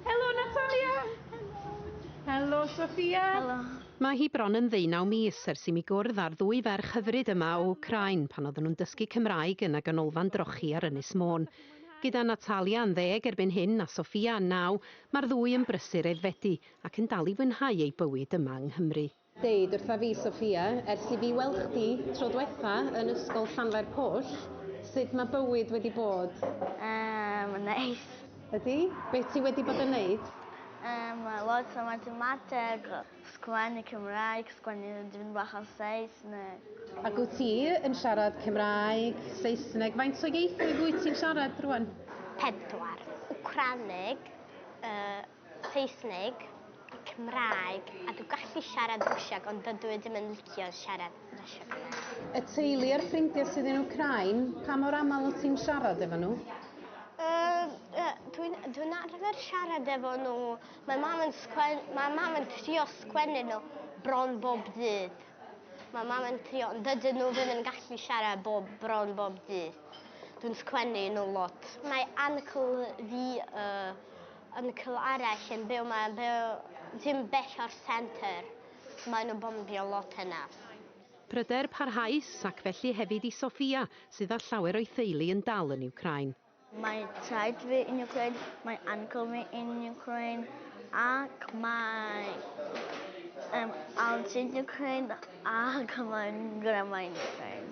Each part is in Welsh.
Helo Natalia! Helo! Helo Sofia! Helo! Mae hi bron yn ddeunaw mis ers i mi gwrdd â'r ddwy ferch hyfryd yma o Wcráin pan oedden nhw'n dysgu Cymraeg yn y Ganolfan Drochi ar Ynys Môn. Gyda Natalia yn ddeg erbyn hyn a Sofia yn naw, mae'r ddwy yn brysur aeddfedu ac yn dal i fwynhau eu bywyd yma yng Nghymru. Deud wrtha fi Sophia, ers i fi weld chdi tro dwetha yn ysgol Llanfair Pwll, sud ma bywyd wedi bod? Yy, ma'n neis. Ydi? Be ti wedi bod yn neud? Yym, lot o mathemateg, sgwennu Cymraeg, sgwennu dipyn bach o Saesneg. Ac wyt ti yn siarad Cymraeg, Saesneg, faint o ieithoedd wyt ti'n siarad rŵan? Pedwar, Wcraneg, yy, Saesneg, Cymraeg a dw gallu siarad Rwsieg ond dydw i ddim yn licio siarad Rwsieg o le. Y teulu a'r ffrindiau sydd yn Wcráin, pa mor aml wyt ti'n siarad efo nhw? Yy dwi'n dwi'n arfer siarad efo nhw. Mae mam yn sgwen- mae mam yn trio sgwennu nhw bron bob dydd. Mae mam yn trio ond dydyn nhw ddim yn gallu siarad bob bron bob dydd. Dwi'n sgwennu i nhw lot. Mae uncle fi yy Ymchwil arall yn byw mae yn byw dim bell o'r centre so mae nhw'n bombio lot yna. Pryder parhaus, ac felly hefyd i Sofia, sydd â llawer o'i theulu yn dal yn Wcráin. Mae taid fi yn Wcráin, mae uncle fi yn Wcráin, ac mae fy aunt yn Wcráin, ac mae fy ngrandmau'n Wcráin.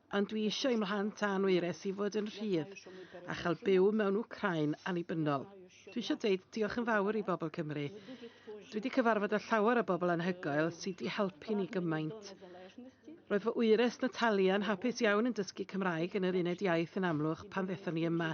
Ond dwi eisiau i'm mhlant a'n wyres i fod yn rhydd a chael byw mewn Wcrain annibynnol. Dwi eisiau deud diolch yn fawr i bobl Cymru. Dwi wedi cyfarfod â llawer o bobl anhygoel sydd wedi helpu ni gymaint. Roedd fy wyres Natalia yn hapus iawn yn dysgu Cymraeg yn yr uned iaith yn Amlwch pan ddethon ni yma.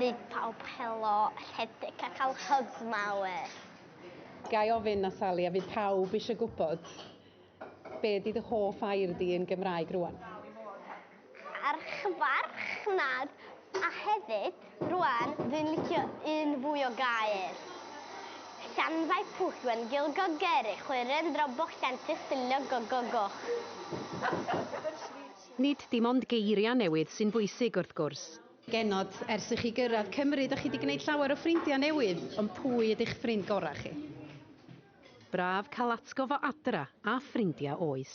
Bydd pawb helo, rhedeg a cael hyg mawr. Ga i ofyn, Natalie, a fydd pawb eisiau gwybod, be ydy dy hoff air di yn Gymraeg rŵan? Archfarchnad, a hefyd, rŵan, dwi'n licio un fwy o gair. Llanfair pwll wen gil gogeri chwiren droboch llantych dillio gogogoch. Nid dim ond geiriau newydd sy'n bwysig, wrth gwrs. Genod, ers i chi gyrraedd Cymru, dych chi 'di gwneud llawer o ffrindiau newydd, ond pwy ydy'ch ffrind gorau chi? Braf cael atgof o adra a ffrindiau oes.